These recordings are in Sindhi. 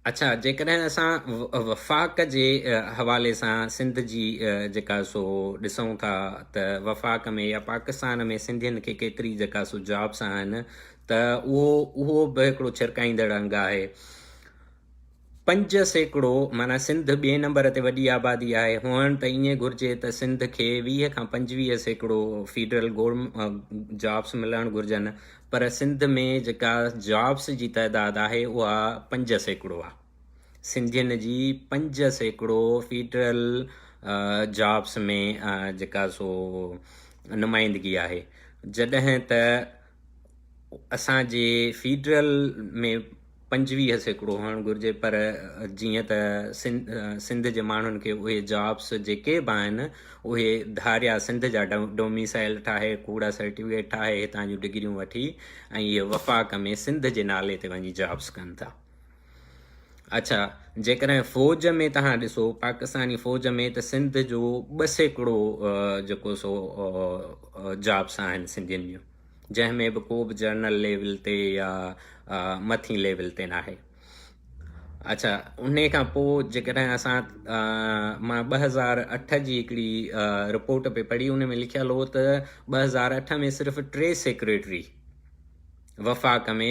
اڇا جيڪڏهن اسان وفاق جي حوالي سان سنڌ جي جيڪا سو ڏسون ٿا ته وفاق ۾ يا پاڪستان ۾ سنڌين کي ڪيتري جيڪا سو جابس آهن ته اهو اهو به هڪڙو ڇرڪائيندڙ انگ آهي پنج سيڪڙو معنيٰ سنڌ ٻئي نمبر تي وڏي آبادي آهي، هئڻ ته ائين گهرجي ته سنڌ کي ويهه کان پنجويهه سيڪڙو فيڊرل گورم جابس ملڻ گهرجن پر سنڌ ۾ جيڪا جابس جي تعداد آهي اها پنج سيڪڙو آهي. سنڌين جي پنج سيڪڙو فيڊرل جابس ۾ جيڪا سو نمائندگي آهي جڏهن ته اسان جي فيڊرل ۾ پنجويهه سيڪڙو هئڻ گهرجي پر جيئن ته سنڌ جي ماڻهن کي اهي جابس جيڪي به آهن اهي ڌاريا سنڌ جا ڊوميسائل ٺاهي ڪوڙا سرٽيفڪيٽ ٺاهي هتان جون ڊگريون وٺي ۽ اهي وفاق ۾ سنڌ جي نالي تي وڃي جابس ڪن ٿا اڇا جيڪڏهن فوج ۾ توهان ڏسو پاڪستاني فوج ۾ ته سنڌ جو ٻه سيڪڙو جيڪو سو جابس آهن سنڌين جون جنهن ۾ به ڪو به جرنل ليول تي يا مٿين ليول تي ناهي اچھا ان کان پوء جيڪڏهن اسان مان ٻه هزار اٺ جي هڪڙي رپورٽ پي پڙهي ان ۾ لکيل هو ته ٻه هزار اٺ ۾ صرف ٽي سيڪريٽري وفاق ۾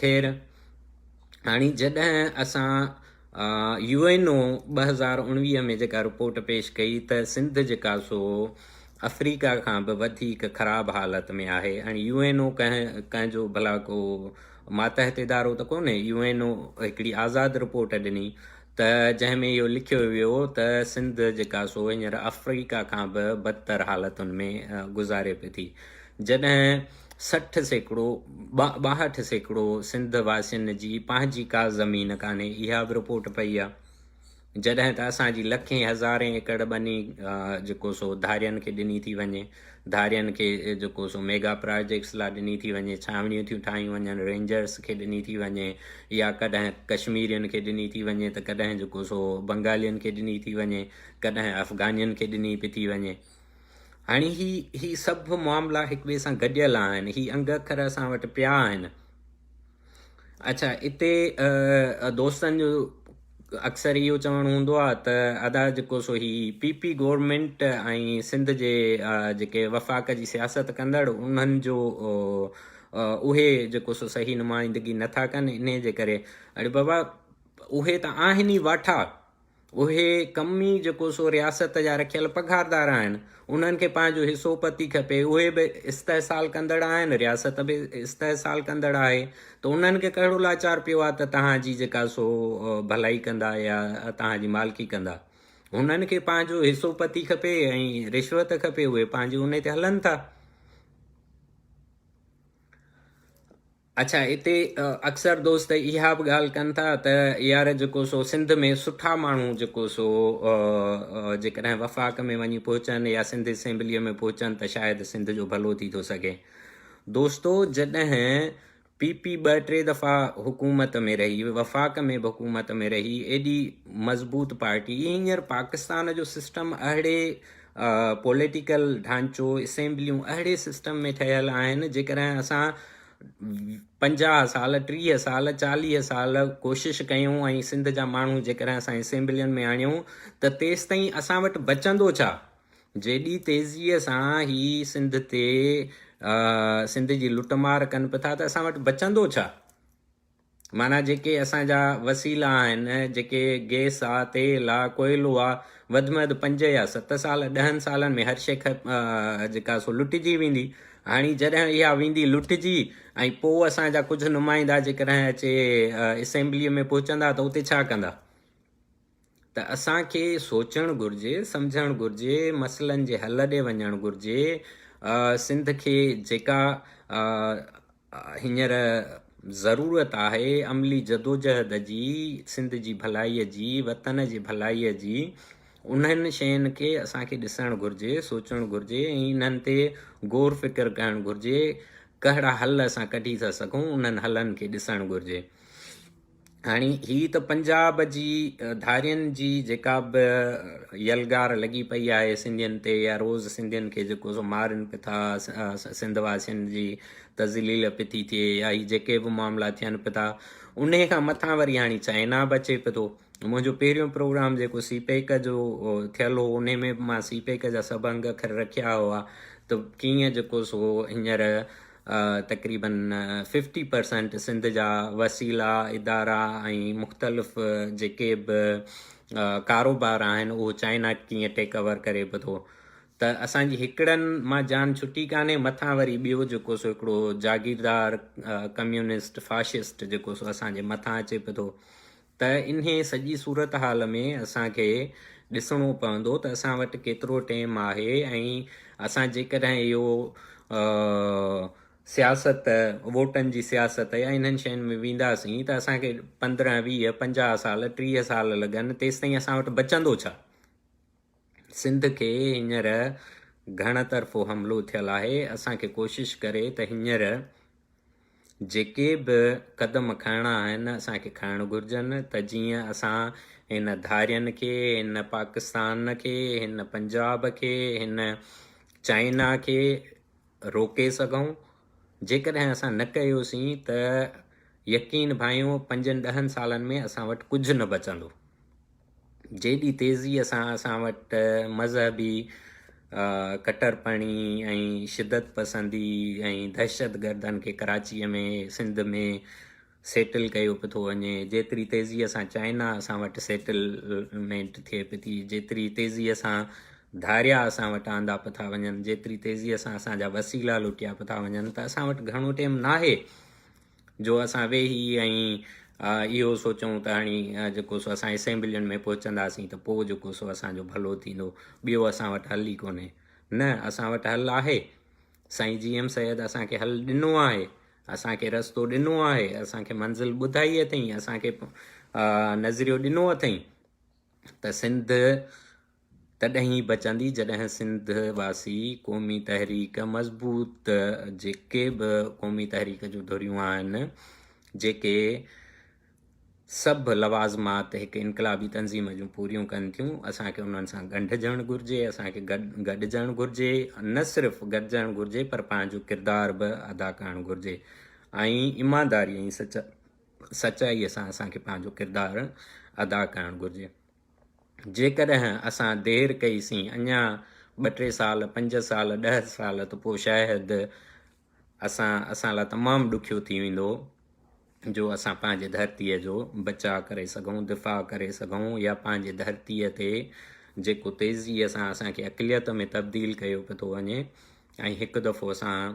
خير، هاڻي جڏهن اسان يو اين او ٻه هزار اڻويهه ۾ جيڪا رپورٽ پيش ڪئي ته سنڌ جيڪا سو آفريڪا کان به وڌيڪ خراب حالت ۾ آهي. هاڻي يو اين او ڪنهن جو ڀلا ڪو ماتحت ادارو ته ڪونهي. يو اين او هڪڙي آزاد رپورٽ ڏني ته جنهن ۾ اهو لکيو ويو ته سنڌ جيڪا سو هينئر آفريڪا کان به بدتر حالتن ۾ گذاري پئي ٿي. جڏهن سٺ سيڪڙو، ٻاهٺ سيڪڙو، سنڌ واسين جي پنهنجي ڪا زمين ڪانهي، اها به رپورٽ پئي آ. جڏهن ته اسان جي لکين هزارين ايڪڙ ٻني جيڪو سو ڌارين کي ڏني ٿي وڃي، ڌارين کي جيڪو سو ميگا پراجيڪٽس لا ڏني ٿي وڃي، ڇانوڻيون ٿيون ٺاهيون وڃن، رينجرز کي ڏني ٿي وڃي يا ڪڏهن ڪشميرين کي ڏني ٿي وڃي ته ڪڏهن جيڪو سو بنگالين کي ڏني ٿي وڃي، ڪڏهن افغانين کي ڏني پئي ٿي وڃي. هاڻي هي هي سڀ معاملا هڪ ٻئي سان گڏيل آهن هي انگ اکر اسان وٽ پيا آهن اچھا اتي دوستن جو اڪثر اهو چوڻ هوندو آهي ته ادا جيڪو سو هي پي پي گورنمنٽ ۽ سنڌ جي جيڪي وفاق جي سياست ڪندڙ انهن جو اهي جيڪو سو صحيح نمائندگي نٿا ڪن انهي جي ڪري اڙي بابا اهي ته آهن ئي واٺا اهي ڪمي جيڪو سو رياست جا رکيل پگهاردار آهن، انهن کي پنهنجو حصو پتي کپي، اهي به استحصال ڪندڙ آهن، رياست به استحصال ڪندڙ آهي، ته انهن کي ڪهڙو لاچار پيو آهي ته توهان جي جيڪا سو ڀلائي ڪندا يا توهان جي مالڪي ڪندا. انهن کي پنهنجو حصو پتي کپي ۽ رشوت کپي، اهي پنهنجي انهي تي هلن ٿا. اڇا اتي اڪثر دوست اها به ڳالهه ڪن ٿا ته يار جيڪو سو سنڌ ۾ سٺا ماڻهو جيڪو سو جيڪڏهن وفاق ۾ وڃي پهچن يا سنڌ اسيمبليء ۾ پهچن ته شايد سنڌ جو ڀلو ٿي ٿو سگهي دوستو جڏهن پي پي ٻه ٽي دفعا حڪومت ۾ رهي وفاق ۾ به حڪومت ۾ رهي ايڏي مضبوط پارٽي هينئر پاڪستان جو سسٽم اهڙي پوليٽيڪل ڍانچو اسيمبليون اهڙي سسٽم ۾ ٺهيل آهن جيڪڏهن اسان پنجاهه سال ٽيهه سال چاليهه سال ڪوشش ڪيون ۽ سنڌ جا ماڻهو جيڪڏهن اسان اسيمبلين ۾ آڻيون ته تيس تائين اسان وٽ بچندو ڇا جيڏي تيزيء سان هي سنڌ تي سنڌ جي لٽ مار ڪن پيا ته اسان وٽ بچندو ڇا معنيٰ جيڪي اسان جا وسيلا آهن، جيڪي گئس آ، تيل آ، ڪوئلو آ، وڌ ۾ وڌ پنج يا ست سال، ڏهن سالن ۾ هر شيء جيڪا سو لٽجي ويندي. هاڻي جڏهن اها ويندي لٽجي ۽ پوء اسان جا ڪجهه نمائندا جيڪڏهن اچي اسيمبليء ۾ پهچندا ته اتي ڇا ڪندا؟ ته اسان کي سوچڻ گهرجي، سمجهڻ گهرجي، مسئلن جي حل ڏي وڃڻ گهرجي، سنڌ کي جيڪا هينئر ضرورت آهي عملي جدوجهد جي، سنڌ جي ڀلائي جي، وطن جي ڀلائي جي، انهن شين کي اسان کي ڏسڻ گهرجي، سوچڻ گهرجي ۽ انهن تي غور فڪر ڪرڻ گهرجي، ڪهڙا حل اسان ڪڍي ٿا سگهون، انهن حلن کي ڏسڻ گهرجي. هاڻي هي ته پنجاب جي ڌارين جي جيڪا به يلغار لڳي پئي آهي سنڌين تي يا روز سنڌين کي جيڪو سو مارن پئي ٿا سنڌ واسين جي تذليل پئي ٿي ٿئي يا هي جيڪي به معاملا ٿين پئي ٿا ان کان مٿان وري هاڻي چائنا به اچي پئي ٿو منهنجو پهريون پروگرام جيڪو سی پيڪ جو ٿيل هو ان ۾ به مان سی پيڪ جا سڀ انگ اکر رکيا هئا ته ڪيئن جيڪو سو هينئر تقريبن ففٽي پرسنٽ سنڌ جا وسيلا، ادارا ۽ مختلف جيڪي به ڪاروبار آهن اهو چائنا ڪيئن ٽيڪ اوور ڪري به ٿو ته اسان جي هڪڙن مان جان ڇٽي ڪانهي مٿان وري ٻيو جيڪو سو هڪڙو جاگيردار ڪميونسٽ فاشسٽ جيڪو سو اسان جي مٿان اچي به ٿو ته انهي سڄي صورتحال ۾ اسان کي ڏسڻو پوندو ته اسان وٽ ڪيترو ٽيم آهي ۽ اسان جيڪڏهن اهو سياست ووٽن جي سياست يا انهن شين ۾ وينداسين ته اسان کي پندرهن، ويهه، پنجاهه سال، ٽيهه سال لڳن تيستائين اسان وٽ بچندو ڇا؟ سنڌ کي هينئر گهڻ طرفو حملو ٿيل آهي، اسان کي ڪوشش ڪري ته هينئر جيڪي به قدم کڻڻا آهن اسان کي کڻڻ گهرجن ته جيئن اسان هن ڌارين کي، هن پاڪستان کي، هن پنجاب کي، هن چائنا کي روڪي سگهون، جيڪڏهن اسان نه ڪيوسين ته يقين ڀانئيو پنجن ڏهن سالن ۾ اسان وٽ ڪجهه نه بچندو. جيڏي تيزيء سان اسان وٽ مذهبي ڪٽرپڻي ۽ شدت پسندي ۽ دهشتگردن کي ڪراچيء ۾ سنڌ ۾ سيٽل ڪيو پيو ٿو وڃي، جيتري تيزيء سان چائنا اسان وٽ سيٽلمينٽ ٿئي پئي ٿي، جيتري تيزيء سان ڌاريا اسان وٽ آندا پيا ٿا وڃن، جيتري تيزيء سان اسان جا وسيلا لٽيا پيا ٿا وڃن ته اسان وٽ گهڻو ٽيم ناهي. جو اسان ويهي ۽ اهو سوچون ته هاڻي جيڪو سو اسان اسيمبلين ۾ پهچنداسين ته پوء جيڪو سو اسان جو ڀلو ٿيندو، ٻيو اسان وٽ حل ئي ڪونهي. نه اسان وٽ حل آهي. سائين جي ايم سيد اسان کي حل ڏنو آهي، اسان کي رستو ڏنو آهي، اسان کي منزل ٻڌائي اٿئي، اسان کي نظريو ڏنو اٿئي ته سنڌ تڏهن ئي بچندي جڏهن سنڌ واسي قومي تحريڪ مضبوط جيڪي به قومي تحريڪ جون ڌريون آهن جيڪي سڀ لوازمات هڪ انقلابي تنظيم جون پوريون ڪن ٿيون اسان کي انهن سان ڳنڍجڻ گهرجي اسان کي گڏجڻ گهرجي نه صرف گڏجڻ گهرجي پر پنهنجو ڪردار به ادا ڪرڻ گهرجي ۽ ايمانداري ۽ سچائي سان اسان کي پنهنجو ڪردار ادا ڪرڻ گهرجي جيڪڏهن اسان دير ڪئي سين اڃا ٻه ٽي سال، پنج سال، ڏهه سال ته پوء شايد اسان اسان لاء تمام ڏکيو ٿي ويندو جو اسان پنهنجي ڌرتيء جو بچاء ڪري سگهون، دفاع ڪري سگهون يا پنهنجي ڌرتيء تي جيڪو تيزيء سان اسان کي اقليت ۾ تبديل ڪيو پيو ٿو وڃي ۽ هڪ دفعو اسان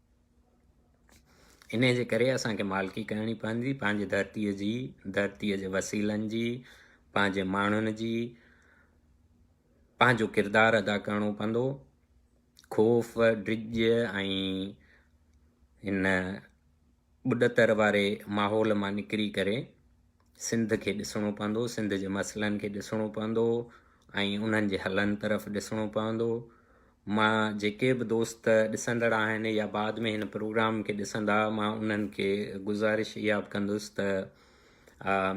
انهيء جي ڪري اسان کي مالڪي ڪرڻي پوندي پنهنجي ڌرتيء جي، ڌرتيء جي وسيلن جي، پنهنجي ماڻهن جي. پنهنجو ڪردار ادا ڪرڻو پوندو. خوف، ڊڄ ۽ هن ٻڏتر واري ماحول مان نڪري ڪري. سنڌ کي ڏسڻو پوندو، سنڌ جي مسئلن کي ڏسڻو پوندو ۽ انهن جي حلن طرف ڏسڻو پوندو. مان جيڪي به دوست ڏسندڙ آهن يا بعد ۾ هن پروگرام کي ڏسندا مان انهن کي گذارش اها به ڪندس ته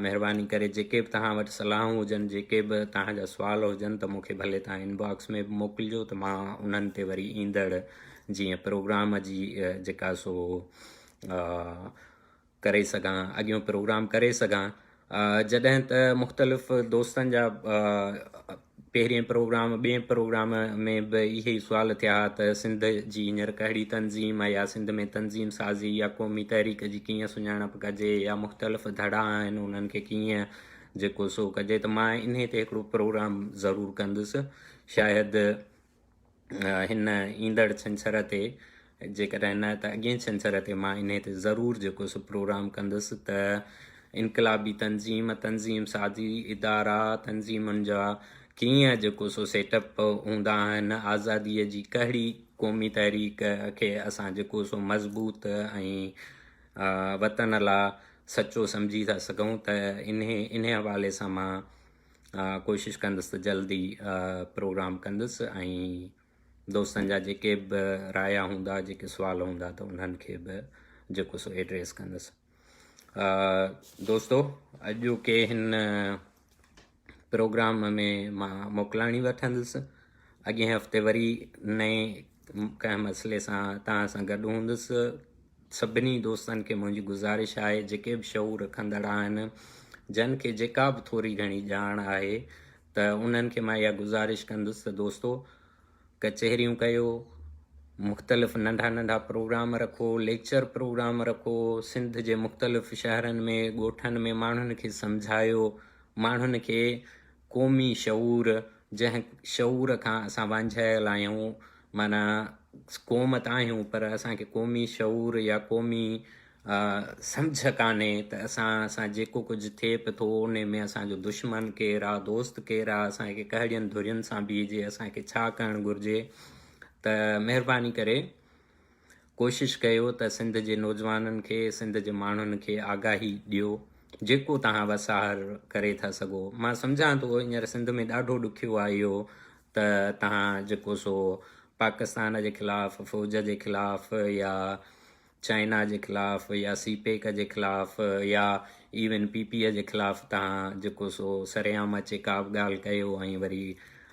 مهرباني ڪري جيڪي به توهان وٽ صلاحون هجن جيڪي به توهان جا سوال هجن ته مون کي ڀلي توهان ان باڪس ۾ به موڪلجو ته مان انهن تي وري ايندڙ جيئن پروگرام جي جيڪا سو ڪري سگهان اڳيون پروگرام ڪري سگهان جڏهن ته مختلف دوستن جا پهرين پروگرام ٻين پروگرام ۾ به اهي ئي سوال ٿيا ها ته سنڌ جي هينئر ڪهڙي تنظيم آهي يا سنڌ ۾ تنظيم سازي يا قومي تحريڪ جي ڪيئن سڃاڻپ ڪجي يا مختلف ڌڙا آهن انهن کي ڪيئن جيڪو سو ڪجي ته مان انهي تي هڪڙو پروگرام ضرور ڪندس شايد هن ايندڙ ڇنڇر تي جيڪڏهن نه ته اڳئين ڇنڇر تي مان انهي تي ضرور جيڪو سو پروگرام ڪندس ته انقلابي تنظيم تنظيم سازي ادارا تنظيمن جا ڪيئن جيڪو سو سيٽ اپ هوندا آهن آزادي جي ڪهڙي قومي تحريڪ کي اسان جيڪو سو مضبوط ۽ وطن لا سچو سمجهي ٿا سگهون ته انهي انهي حوالي سان مان ڪوشش ڪندس ته جلدي پروگرام ڪندس ۽ دوستن جا جيڪي به رايا هوندا جيڪي سوال هوندا ته انهن کي به جيڪو سو ايڊريس ڪندس دوستو اڄوڪي هن پروگرام ۾ مان موڪلاڻي وٺندس اڳئين هفتي وري نئين ڪنهن مسئلي سان تان سان گڏ هوندس سڀني دوستن کي منهنجي گذارش آهي جيڪي به شعور رکندڙ آهن جن کي جيڪا به ٿوري گهڻي ڄاڻ آهي ته انهن کي مان اها گذارش ڪندس ته دوستو ڪچهريون ڪيو مختلف ننڍا ننڍا پروگرام رکو ليڪچر پروگرام رکو سنڌ جي مختلف شهرن ۾ ڳوٺن ۾ ماڻهن کي سمجهايو ماڻهن کي قومي شعور جنهن شعور کان اسان وانجهايل آهيون معنيٰ قوم ته آهيون پر اسان کي قومي شعور يا قومي سمجهه ڪانهي ته اسان سان جيڪو ڪجهه ٿئي به ٿو انهي ۾ اسان جو دشمن ڪير آ دوست ڪير آ اسان کي ڪهڙين ڌرين سان بيهجي اسان کي ڇا ڪرڻ گهرجي ته مهرباني ڪري ڪوشش ڪيو ته سنڌ جي نوجوانن کي سنڌ جي ماڻهن کي آگاهي ڏيو جيڪو توهان وساهر ڪري ٿا سگهو مان سمجهان ٿو هينئر سنڌ ۾ ڏاڍو ڏکيو آهي اهو ته توهان جيڪو سو پاڪستان جي خلاف فوج جي خلاف يا چائنا جي خلاف يا سي پيڪ جي خلاف يا ايون پي پي جي خلاف توهان جيڪو سو سرعام اچي ڪا به ڳالهه ڪيو ۽ وري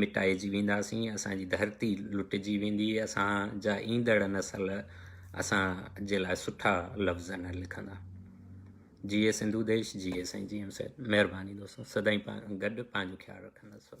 مٽائجي وينداسين اسان جي ڌرتي لٽجي ويندي اسان جا ايندڙ نسل اسان جي لاء سٺا لفظ نه لکندا جيئي سنڌو ديش جيئي سائين جي ايم سيد مهرباني دوستو سدائين گڏ پنهنجو خيال رکنداسون